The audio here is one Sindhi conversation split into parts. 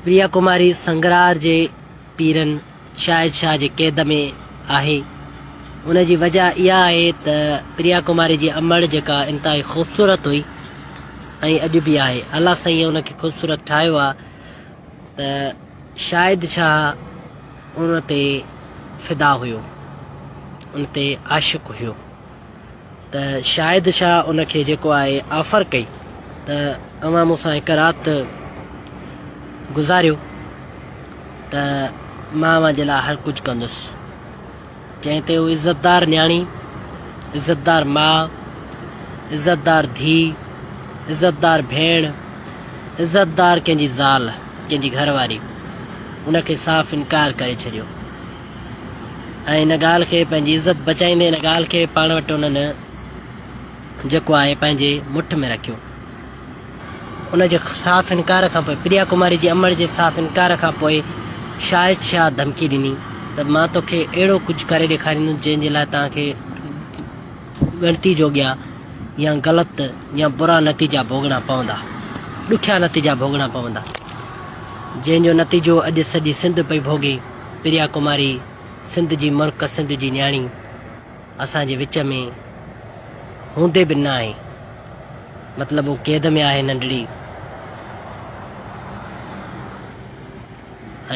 پريا ڪماري سنگرار جي پيرن شاهد شاهه جي قيد ۾ آهي. ان جي وجهه اها آهي ته پريا ڪماري جي امڙ جيڪا انتهائي خوبصورت هئي ۽ اڄ به آهي. الله سائينء ان کي خوبصورت ٺاهيو آهي ته شاهد شاهه ان تي فدا هيو، ان تي عاشق هيو. ته شاهد شاهه ان کي جيڪو آهي آفر ڪئي ته اوهان مون سان هڪ رات گذاريو ته مان اوهان جي لاء هر ڪجهه ڪندس جنهن تي هو عزتدار نياڻي عزتدار ماء عزتدار ڌي عزتدار ڀيڻ عزتدار ڪنهن جي زال ڪنهن جي گهر واري ان کي صاف انڪار ڪري ڇڏيو. ۽ ان ڳالهه کي پنهنجي عزت بچائيندي ان ڳالهه کي پاڻ وٽ انهن جيڪو آهي پنهنجي مٺ ۾ رکيو. ان جي صاف انڪار کان پوء پريا ڪماري جي امڙ جي صاف انڪار کان پوء شاهد شاهه ڌمڪي ڏني ته مان توکي اهڙو ڪجهه ڪري ڏيکاريندس جنهن جي لاء توهان کي ڳڻتي جوڳيا يا غلط يا برا نتيجا ڀوڳڻا پوندا ڏکيا نتيجا ڀوڳڻا پوندا جنهن جو نتيجو اڄ سڄي سنڌ پئي ڀوڳي. پريا ڪماري سنڌ جي مرڪ سنڌ جي نياڻي اسان جي وچ ۾ هوندي به ناهي مطلب هو قيد ۾ آهي ننڍڙي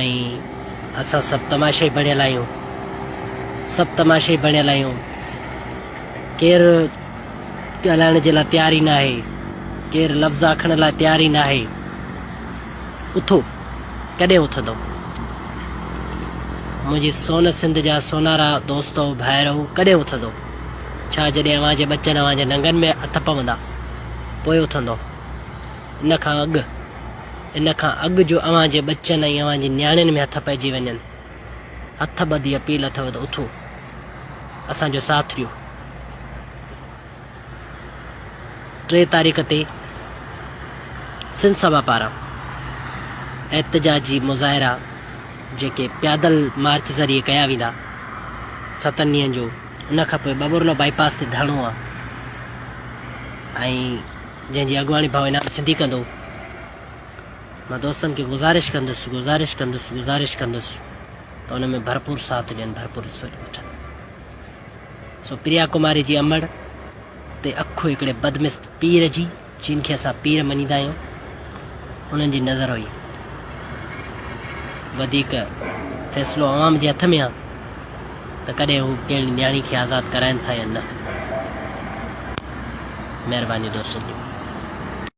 ۽ اسان سڀ تماشائي بڻيل آهيون سڀ تماشائي بڻيل آهيون ڪير ڳالهائڻ جي لاء تيار ئي ناهي ڪير لفظ آکڻ لاء تيار ئي ناهي اٿو، ڪڏهن اٿندؤ؟ منهنجي سون سنڌ جا سونارا دوستؤ، ڀائرؤ، ڪڏهن اٿندؤ؟ ڇا جڏهن اوهان جي ٻچن اوهان جي ننگن ۾ هٿ پوندا، پوء اٿندؤ؟ ان کان اڳ، ان کان اڳ جو اوهان جي ٻچن ۽ اوهان جي نياڻين ۾ هٿ پئجي وڃن، هٿ ٻڌي اپيل اٿو ته اٿو، اسان جو ساٿ ڏيو. ٽي تاريخ تي سنڌ سڀا پاران احتجاجي مظاهرا جيڪي پيادل مارچ ذريعي ڪيا ويندا ستن ڏينهن جو ان کان پوء ٻٻورلو بائي پاس تي ڌرڻو آ ۽ جنهن جي اڳواڻي ڀائو انعام سنڌي ڪندو مان دوستن کي گذارش ڪندس گذارش ڪندس گذارش ڪندس ته ان ۾ ڀرپور ساٿ ڏين ڀرپور حصو وٺن سو پريا ڪماري جي امڙ تي اک هڪڙي بدمست پير جي، جن کي اسان پير مڃيندا آهيون، انهن جي نظر هئي. وڌيڪ فيصلو عوام جي هٿ ۾ آ ته ڪڏهن هو ڪهڙي نياڻي کي آزاد ڪرائين ٿا يا نه. مهرباني دوستو.